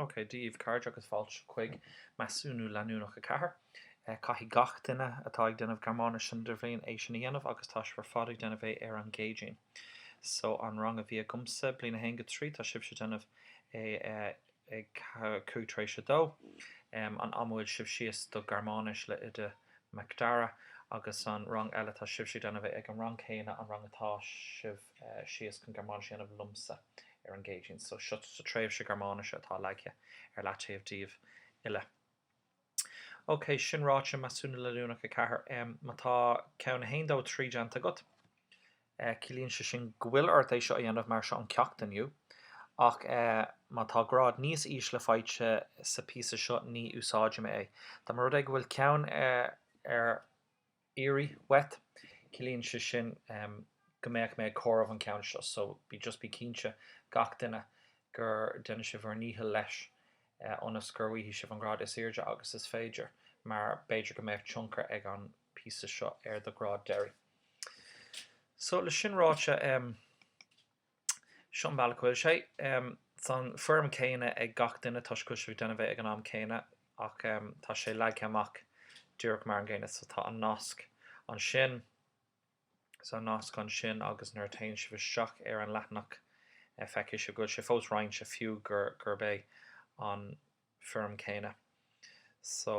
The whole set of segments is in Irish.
Ócé, Dia dhíbh cairde agus fáilte chuig Measúnú Leanúnach 4. Caithfidh gach duine atá ag déanamh Gearmáinis san Idirbhliain é sin a dhéanamh agus tá sibh ar fad ag déanamh é ar an gCéadaoin. So, an rang a bhí agamsa, Bliain 1-3, tá sibhse ag déanamh é ar. ag cúig tar éis a dó. An am a bhfuil sibh síos do Gearmáinis le Iníon Nic Dara agus an rang eile tá sibhse ag déanamh é ag an rang céanna an rang atá sibh síos chun Gearmáinis a dhéanamh liomsa ar an gCéadaoin so seo sa tréimhse Gearmáinise atá leagtha ar leataobh daoibh uile. OK, sin ráite, Measúnú Leanúnach 4, má tá ceann 1, 2, 3 déanta agat, ciallaíonn sé sin go bhfuil ort é seo a dhéanamh mar seo an ceacht inniu. Ach má tá grád níos ísle faighte sa phíosa seo ní úsáidfidh mé é. Dá mba rud é go bhfuil ceann ar. iarraidh uait. Ciallaíonn sé sin go mbeidh mé ag comhaireamh an ceann seo so bí, just bí cinnte, gach duine, go ndéanann sibh bhur ndícheall leis ionas gur bhfaighidh sibh an grád is airde agus is féidir mar b'fhéidir go mbeadh tionchar ag an píosa seo ar do ghrád deiridh. So, le sin ráite, em. Seo an bealach go bhfuil sé. Seo an foirm céanna ag gach duine toisc go bhfuil sibh ag déanamh é ag an am céanna ach tá sé leagtha amach díreach mar an gcéanna. So tá an nasc ansin. Tá an nasc ansin agus nuair a théann sibh isteach ar an leathanach feicfidh sibh go bhfuil sé fós roinnte fiú gurb é an foirm céanna. So.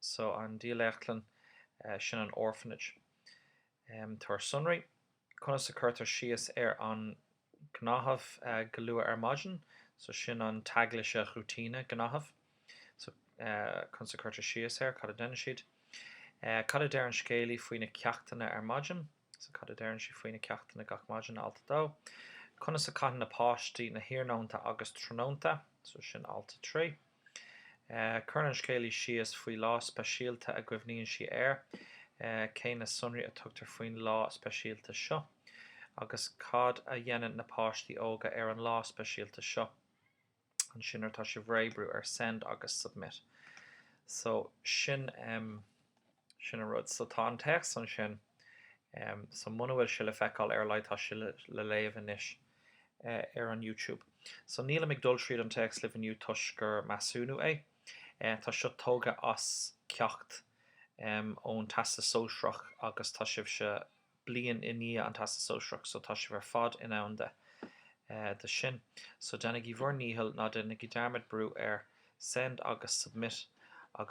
so an dílleachtlann, sin an orphanage. Tabhair sonraí, conas a cuirtear síos ar an ngnáthamh go luath ar maidin, so sin an Tagesroutine, gnáthamh, so conas a cuirtear síos air, cad a déanann siad. Cad a deir an scéalaí faoi na ceachtanna ar maidin? So, cad a deireann sí faoi na ceachtanna gach maidin, alt 2. Conas a caitheann na páistí na hiarnónta agus tráthnónta, so sin alt 3. Cuireann an scéalaí síos faoi lá speisialta a gcuimhníonn sí air, cén sonraí a tugtar faoin lá speisialta seo? Agus cad a dhéanann na páistí óga ar an lá speisialta seo? ansin nuair atá sibh réidh brú ar send agus submit so sin ehm sin an rud so tá an téacs ansin ehm so muna bhfuil sé le feiceáil ar a laghad tá sé le léamh anois eh ar an YouTube so nílim ag dul tríd an téacs libh inniu toisc gur measúnú é eh tá seo tógtha as ceacht ehm ón Teastas Sóisearach agus tá sibhse bliain i ndiaidh an Teastas Sóisearach so tá sibh ar fad in ann dó sin. So déanaigí bhur ndícheall, ná déanaigí dearmad brú ar Send agus Submit agus.